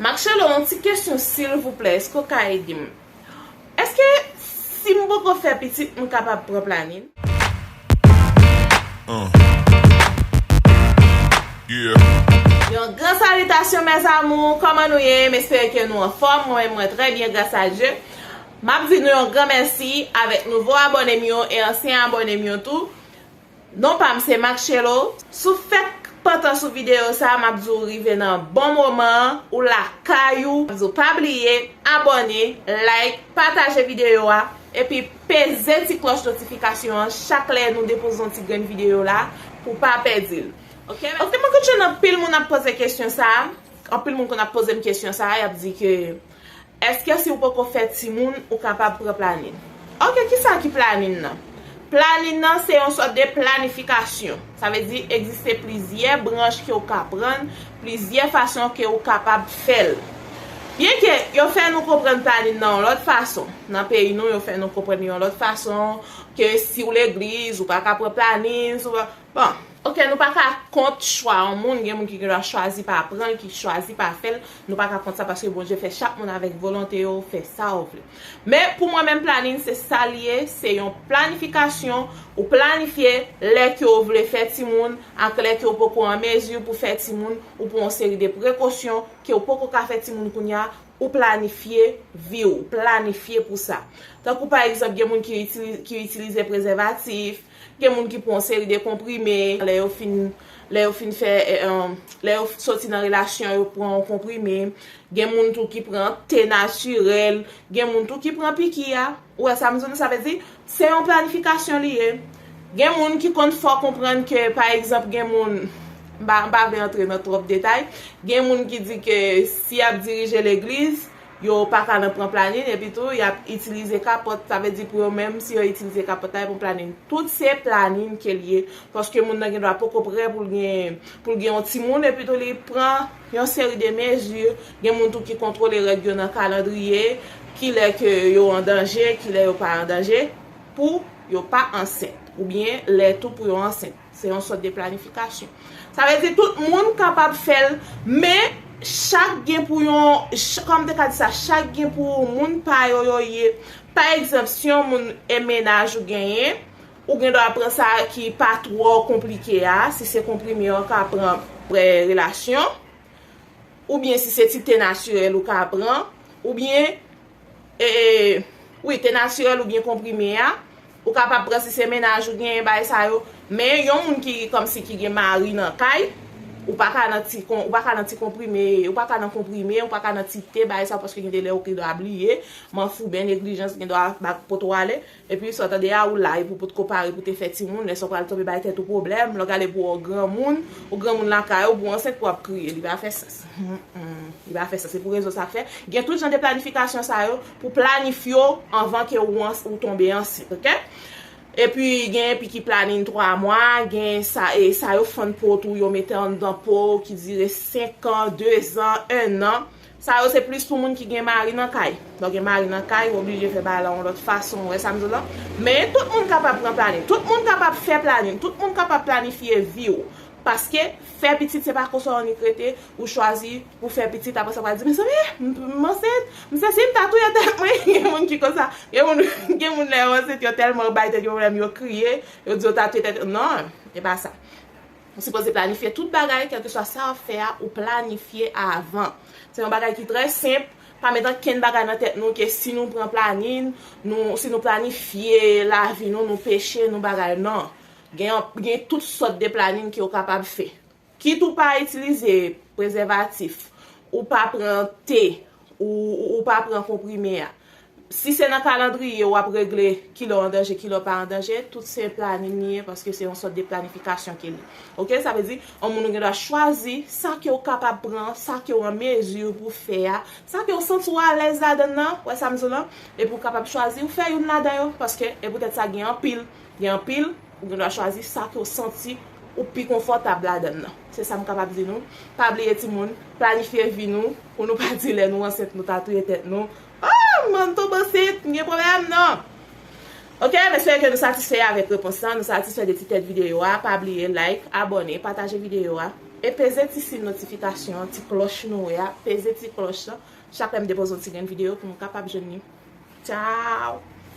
Marcello yon ti kesyon silvouplè eske ou ka edem eske sim poko fè pitit m kapab pran planin. Yon gran salitasyon mes amours kòman nou ye m espere ke nou anfòm mwen menm mwen trè byen gras a Dye map di nou yon gran mèsi avèk nouvo abòne m yo e ansyen abòne m yo tou Non pam se Matchelo, si w fèk pantan sou video sa map di w rive nan bon moman an, ou lakay ou, map di w pa bliye abòne, like, pataje video a, epi peze ti klòch notifikasyon an chak lè nou depoze yon ti grenn video la pou w pa pèdi l ok mèsi. Mwen konn jwenn anpil moun ap poze kesyon sa, anpil moun konn ap poze m kesyon sa yap di ke Eske si ou poko fè timoun ou kapab pran planin? Ok kisa ki planin nan? Planin nan se yon sòt de planifikasyon. Sa vle di egziste plizyè branch ke ou ka pran, plizyè fason ke ou kapab fè l. Byen ke yo fè nou konprann planin nan yon lòt fason. Nan peyi nou yo fè nou konprann yon lòt fason ke si ou legliz ou pa ka pran planin. Bon, ok nou pa ka kont chwa yon moun, gen moun ki gen dwa chwazi pa pran l, ki chwazi pa fè l, nou pa ka kont sa paske Bondye fè chak moun avèk volonte yo, fè sa ou vle. Men pou mwen menm planin se sa l ye, se yon planifikasyon, ou planifye lè ke w vle fè timoun ak lè ke w poko an mezi pou fè timoun, ou pran yon seri de prekosyon ke w poko ka fè timoun kounye a, ou planifye vi w, ou planifye pou sa. Tankou pa egzanp gen moun ki itilize prezèvatif, Gen moun ki pran yon seri de konprime, lè yo fin lè yo fin fè lè yo soti nan relasyon yo pran yon konprime, gen moun tou ki pran te natirèl, gen moun tou ki pran piki a, ou wè sa m di w, sa vle di se yon planifikasyon li ye. Gen moun ki konn fè w konprann ke pa egzanp gen moun, m pa m pa vle antre nan twòp detay, gen moun ki di ke si y ap dirije legliz, Yo pa ka nan pran planin epi tou yap itilize kapòt sa vle di pou yo menm si yo itilize kapòt la yo pran planin tout se planin kel ye paske moun nan gen dwa poko prè poul gen poul gen yon timoun epi tou li pran yon seri de mezi gen moun tou ki kontwole règ yo nan kalandriye kilè ke yo an danje kilè yo pa an danje pou yo pa ansent oubyen lè tou pou yo ansent. Se yon sòt de planifikasyon. Sa vle di tout moun kapab fè l, men chak gen pou yon, kòman m te ka di sa, chak gen pou moun pa yo yo ye. Pa egzanp, si yon moun e mennaj ou genyen, ou gen dwa pran sa ki pa twò konplike a, si se konprime ou ka pran pre relasyon, oubyen si se ti te natirèl ou ka pran, oubyen, ee, wi te natirèl oubyen konprime a. Ou kapab pran si se mennaj ou genyen bagay sa yo, men yon moun ki kòmsi ki gen mari nan kay, ou pa ka nan ti ou pa ka nan ti konprime, ou pa ka nan konprime, ou pa ka nan ti te bagay sa yo paske gen de lè ou gen dwa bliye, manfouben, neglijans gen dwa bat pot ou ale, epi sa w tande a ou la epi w potko pare pou te fè timoun, lè sa w pral tonbe bay tèt ou pwoblèm, lè w gade pou w granmoun, ou granmoun lakay ou, pou w ansent pou w ap kriye, li pa fè sans. Li pa fè sans, se pou rezon sa k fè gen tout jan de planifikasyon sa yo, Pou planif yo anvan ke ou ans ou tonbe ansent ok. Epi gen epi ki planin 3 mwa, gen sa e sa yo fann po tou yo mete anndan pow ki dire 5 an, 2 zan, 1 an. Sa yo se plis pou moun ki gen mari nan kay. Lè w gen mari nan kay, ou oblije fè bagay la yon lòt fason, ou wè sa m di w la. Men, tout moun kapab pran planin. Tout moun kapab fè planin. Tout moun kapab planifye vi w. Paske, fè pitit se pa konsa w annik rete, ou chwazi. pou fè pitit aprè sa pral di mezanmi m ansent m sesi m ta touye tèt mwen gen moun ki konsa gen moun lè yo ansent yo tèlman bay tèt yo pwoblèm yo kriye yo di yo ta touye tèt yo nan e pa sa ou sipoze planifye tout bagay kèlkeswa sa wap fè a ou planifye avan se yon bagay ki trè senp pa met ankenn bagay nan tèt nou ke si nou pran planin si nou planifye lavi nou nou peche nou bagay nan gen tout sòt de planin ke ou kapab fè. Kit ou pa itilize prezèvatif, ou pa pran T, ou ou pa pran konprime a. Si se nan kalandriye ou ap regle kilè w an danje, kilè w pa an danje, tout se planin li ye paske se yon sòt de planifikasyon ke li. Ok, sa vle di, yon moun ou gen dwa chwazi sa ke w kapab pran, sa ke w an mezi pou fè a, sa ke w santi w alèz ladann nan, wè sa m di w lan, epi w kapab chwazi ou fè youn ladan yo paske e poutèt sa gen anpil, gen anpil. Ou gen dwa chwazi sa ke w santi ou pi konfòtab ladan l lan. Se sa m kapab di nou. Pa bliye timoun, planifye vi nou pou nou pa di lè nou ansent nou ta touye tèt nou, Oh! M pral tonbe ansent, m gen pwoblèm! Non! Ok, m espere ke nou satisfè avèk repons lan, nou satisfè de ti tèt videyo a. Pa bliye like, abòne, pataje videyo a, e peze ti sin notifikasyon an, ti klòch nou wè a, peze ti klòch lan, chak lè m depoze yon ti grenn videyo pou nou kapab jwenn li. Tchao!